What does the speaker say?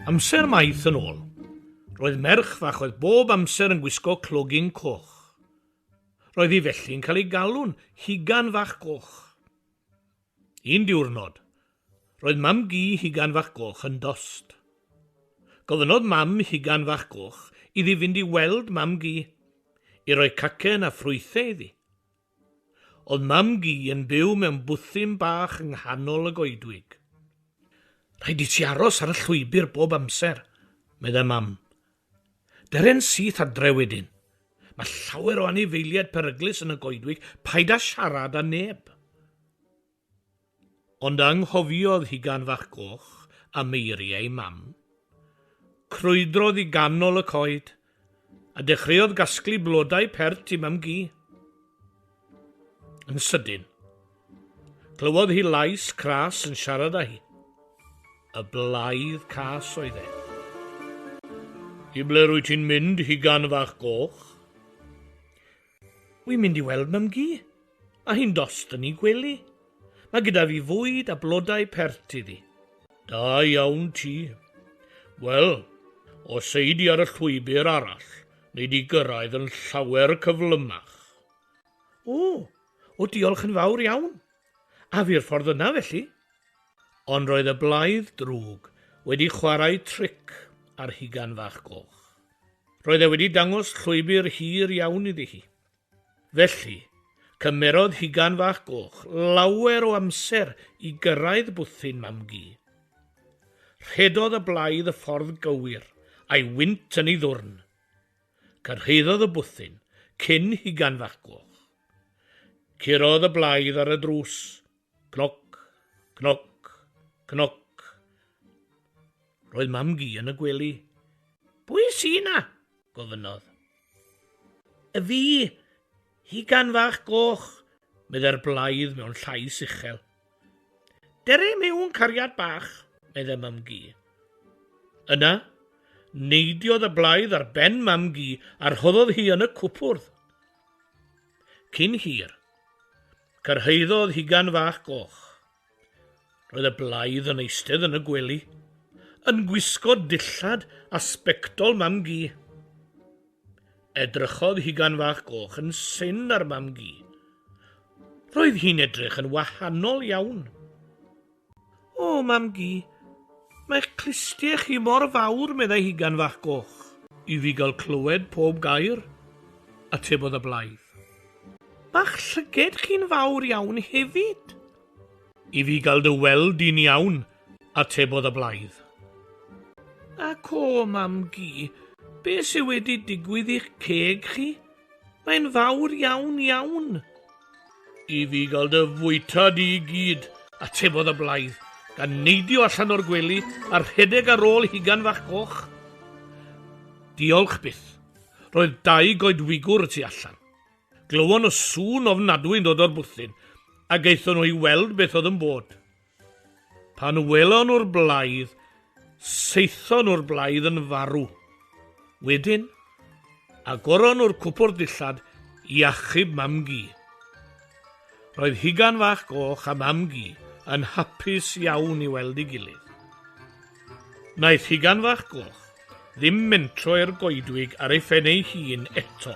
Amser maith yn ôl, roedd merch fach oedd bob amser yn gwisgo clogyn coch. Roedd hi felly yn cael ei galw'n Hugan Fach Goch. Un diwrnod, roedd mam gi Hugan Fach Goch yn dost. Gofynnodd mam Hugan Fach Goch iddi fynd i weld mam gi, i roi cacen a ffrwythau iddi. Oedd mam-gu yn byw mewn bwthyn bach yng nghanol y goedwig. Rhaid i ti aros ar y llwybr bob amser, meddai mam. Deren syth adre wedyn. Mae llawer o anifeiliaid peryglus yn y goedwig, paid â siarad â neb. Ond anghofiodd hi gan fach goch am eiriau ei mam. Crwydrodd i ganol y coed, a dechreuodd gasglu blodau pert i Mam-gu. Yn sydyn, clywodd hi lais cras yn siarad â hi. Y blaidd cas oedd e. I ble rwyt ti'n mynd, hugan fach goch? Wi'n mynd i weld mam gi, a hi'n dost yn 'i gwely. Mae gyda fi fwyd a blodau pert iddi. Da iawn ti. Wel, os ei di ar y llwybr arall, nei di gyrraedd yn llawer cyflymach. O, o diolch yn fawr iawn. A fi'r ffordd yna felly? Ond roedd y blaidd drwg wedi chwarae tric ar Hugan Fach Goch. Roedd e wedi dangos llwybr hir iawn iddi hi. Felly, cymerodd Hugan Fach Goch lawer o amser i gyrraedd bwthyn Mam-gu. Rhedodd y blaidd y ffordd gywir, a'i wynt yn ei ddwrn. Cyrhaeddodd y bwthyn cyn Hugan Fach Goch. Curodd y blaidd ar y drws. Cnoc, cnoc, cnoc. Roedd Mam-gu yn y gwely. Pwy sy 'na? gofynnodd. Y fi, Hugan fach goch, meddai'r blaidd mewn llais uchel. Dere mewn cariad bach, meddai Mam-gu. Yna, neidiodd y blaidd ar ben Mam-gu a rhoddodd hi yn y cwpwrdd. Cyn hir, cyrhaeddodd hugan fach goch. Roedd y blaidd yn eistedd yn y gwely, yn gwisgo dillad a sbectol mam-gu. Edrychodd hugan fach goch yn syn ar mam-gu. Roedd hi'n edrych yn wahanol iawn. O, Mam-gu, mae'ch clustie chi mor fawr, meddai Hugan fach goch. I fi gael clywed pob gair, atebodd y blaidd. Mae'ch llyged chi'n fawr iawn hefyd. I fi gael dy weld di'n iawn, atebodd y blaidd. Ac o, Mam-gu, beth sydd wedi digwydd i'ch ceg chi? Mae'n fawr iawn, iawn. I fi gael dy fwyta di i gyd, atebodd y blaidd, gan neidio allan o'r gwely a rhedeg ar ôl hugan fach coch. Diolch byth. Roedd dau goedwigwr y tu allan. Glywon y sŵn ofnadwy yn dod o'r bwthyn, a gaethon nhw i weld beth oedd yn bod. Pan welon nhw'r blaidd, saethon nhw'r blaidd yn farw. Wedyn, agoron nhw'r cwpwrdd dillad i achub mam-gu. Roedd Hugan Fach Goch a mam-gu yn hapus iawn i weld ei gilydd. Naeth Hugan Fach Goch ddim mentro i'r goedwig ar ei phen ei hun eto.